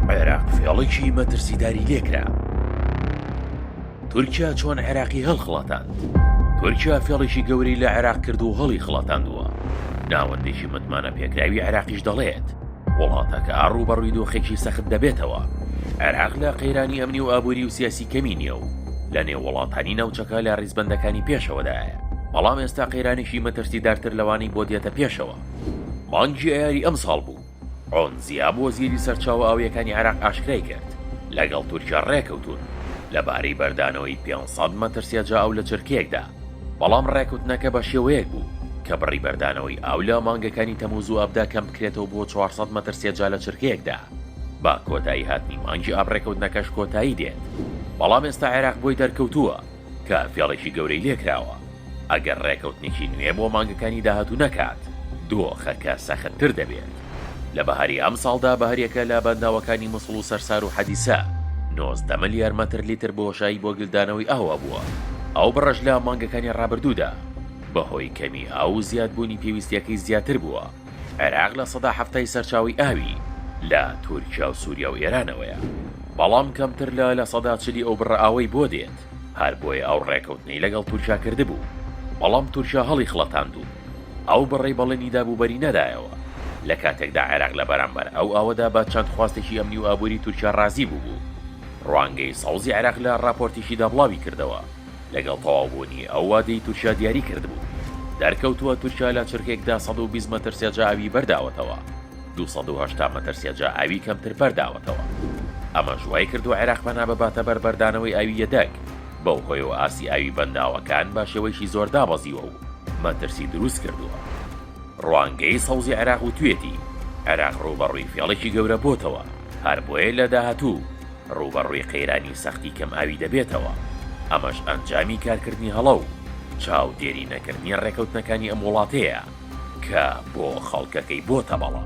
عێراق فێڵێکی مەترسیداری لێکرا تورکیا چۆن عێراقی هەڵخڵاتاند تورکیا فێڵێکی گەوری لە عێراق کرد و هەڵی خڵاتاندووە ناوەندێکی متمانە پێکراوی عێراقیش دەڵێت وڵاتەکە ڕووبەڕووی دۆخێکی سەخت دەبێتەوە عێراق لە قەیرانی ئەمنی و ئابووری و سیاسی کەمی نییە و لە نێو وڵاتانی ناوچەکە لە ڕیزبندەکانی پێشەوەدایە بەڵام ئێستا قەیرانێکی مەترسیدارتر لەوانەی بۆ دێتە پێشەوە مانگی ئەیاری ئەم ساڵ بوو عون زیاب وەزیری سەرچاوە ئاوییەکانی عێراق ئاشکرای کرد، لەگەڵ تورکیا ڕێکەوتوون لەبارەی بەردانەوەی پێنج سەد مەترسیە جا ئاو لە چرکەیەکدا، بەڵام ڕێکەوتنەکە بەشێوەیەک بوو کە بڕی بەردانەوەی ئاو لە مانگەکانی تەمووز و ئابدا کەمبکرێتەوە بۆ چوار سەد مەترسیە جا لە چرکەیەکدا، بە کۆتایی هاتنی مانگی ئاب ڕێکەوتنەکەش کۆتایی دێت، بەڵام ئێستا عێراق بۆی دەرکەوتووە. کە فێڵێکی گەورەی لێکراوە ئەگەر ڕێکەوتنێکی نوێ بۆ مانگەکانی داهاتوو نەکات، دۆخەکە سەختتر دەبێت. لە بەهاری ئەمساڵدا بەهەریەکە لە بەنداوەکانی موسڵ و سەرسار و حەدیسە نۆزدە ملیار مەتر لیتر بۆشایی بۆ گلدانەوەی ئاو هەبووە، ئەو بڕەش لە مانگەکانی ڕابردوودا بەهۆی کەمی ئاو و زیادبوونی پێویستییەکەی زیاتر بووە. عێراق لە سەدا حەفتای سەرچاوەی ئاوی لە تورکیا و سوریا و ئێرانەوەیە، بەڵام کەمتر لە لە سەدا چلی ئەو بڕە ئاوەی بۆ دێت، هەر بۆیە ئەو ڕێکەوتنەی لەگەڵ تورکیا کردبوو، بەڵام تورکیا هەڵیخڵەتاند و ئەو بڕەی بەڵێنی دابوو بەری نەدایەوە، لە کاتێکدا عێراق لە بەرامبەر ئەو ئاوەدا بە چەند خواستێکی ئەمنی و ئابووری تورکیا ڕازی بووبوو. ڕوانگەی سەوزی عێراق لە ڕاپۆرتێکیدا بڵاوی کردەوە، لەگەڵ تەواوبوونی ئەو وادەی تورکیا دیاری کردبوو. دەرکەوتووە تورکیا لە چرکەیەکدا سەد و بیست مەتر سێجا ئاوی بەر داوەتەوە، دوو سەد و هەشتا مەتر سێجا ئاوی کەمتر بەر داوەتەوە. ئەمەش وای کردووە عێراق پەنا بباتە بەر بەردانەوەی ئاوی یەدەگ، بەو هۆیەوە ئاستی ئاوی بەنداوەکان بە شێوەیەکی زۆر دابەزیوە و مەترسی دروست کردووە. ڕوانگەی سەوزی عێراق وتویەتی، عێراق ڕووبەڕووی فێڵێکی گەورە بۆتەوە، هەر بۆیە لە داهاتوو، ڕووبەڕووی قەیرانی سەختی کەمئاوی دەبێتەوە، ئەمەش ئەنجامی کارکردنی هەڵە و چاودێری نەکردنی ڕێکەوتنەکانی ئەم وڵاتەیە کە بۆ خەڵکەکەی بۆتە بەڵا.